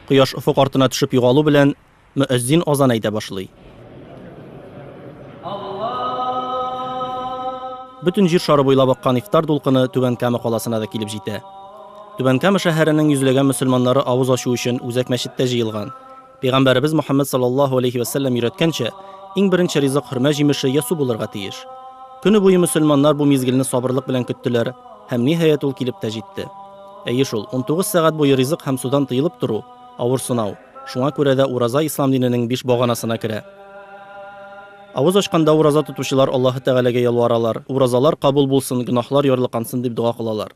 Кояш офык артына төшеп югалу белән, мөәззин азан әйтә башлый. Бөтен җир шары буйлап аккан ифтар дулкыны Түбән Кама каласына да килеп җитә. Түбән Кама шәһәренең йөзләгән мөселманнары авыз ачу өчен үзәк мәчеттә җыелган. Пәйгамбәребез Мөхәммәд саллаллаһу алейһи вә сәлләм өйрәткәнчә, иң беренче ризык хөрмә җимеше йә су булырга тиеш. Көне буе мөселманнар бу мизгелне сабырлык белән көттеләр, һәм, ниһаять, ул килеп тә җитте. Әйе шул, унтугыз сәгать буе ризык һәм судан тыелып тору, авыр сынау. Шуңа күрә дә ураза ислам диненең биш баганасына керә. Авыз ачканда ураза тотучылар Аллаһы Тәгаләгә ялваралар, уразалар кабул булсын, гөнаһлар ярлыкансын дип дога кылалар.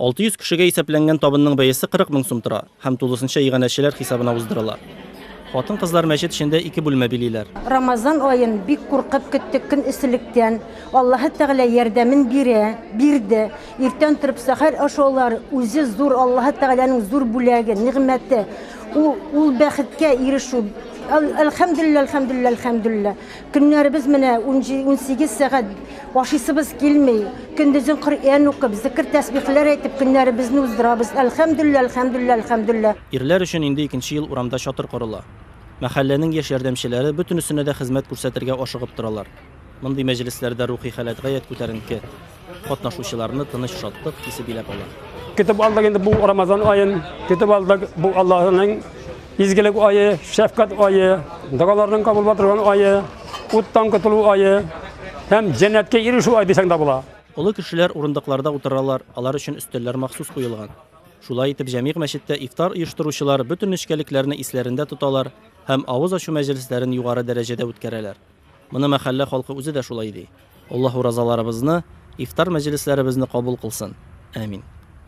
600 кешегә исәпләнгән табынның бәясе 40 мең сум тора һәм тулысынча иганәчеләр хисабына уздырыла. Хатын-кызлар мәчет эчендә ике бүлмә билиләр. Рамазан аен бик куркып көттек көн эсселектән. Аллаһы Тәгалә ярдәмен бирә, бирде. Иртән торып сәхәр ашаулар үзе зур Аллаһы Тәгаләнең зур бүләге, нигъмәте. Ул ул бәхеткә ирешү. Әл, әлхәмдүлилләһ, әлхәмдүлилләһ, әлхәмдүлилләһ. Көннәребез менә унсигез сәгать ашыйсыбыз килми. Көндезен Коръән укып, зикер-тәсбихләр әйтеп көннәребезне уздырабыз. Әлхәмдүллә, әлхәмдүллә, әлхәмдүллә. Ирләр өчен инде икенче ел урамда чатыр корыла. Мәхәлләнең яшь ярдәмчеләре бөтенесенә дә хезмәт күрсәтергә ашыгып торалар. Мондый мәҗлесләрдә рухи халәт гаять күтәренке. Катнашучыларны тыныч шатлык хисе биләп ала. Көтеп алдык инде бу Рамазан аен, көтеп алдык бу Аллаһының изгелек айы, шәфкать айы, догаларның кабул булып айы, уттан котылу айы һәм җәннәткә ирешү ай дисәң дә була. Олы кешеләр урындыкларда утыралар, алар өчен өстәлләр махсус куелган. Шулай итеп, җәмигъ мәчеттә ифтар оештыручылар бөтен нечкәлекләрне исләрендә тоталар һәм авыз ачу мәҗлесләрен югары дәрәҗәдә үткәрәләр. Моны мәхәллә халкы үзе дә шулай ди. Аллаһ уразаларыбызны, ифтар мәҗлесләребезне кабул кылсын. Әмин.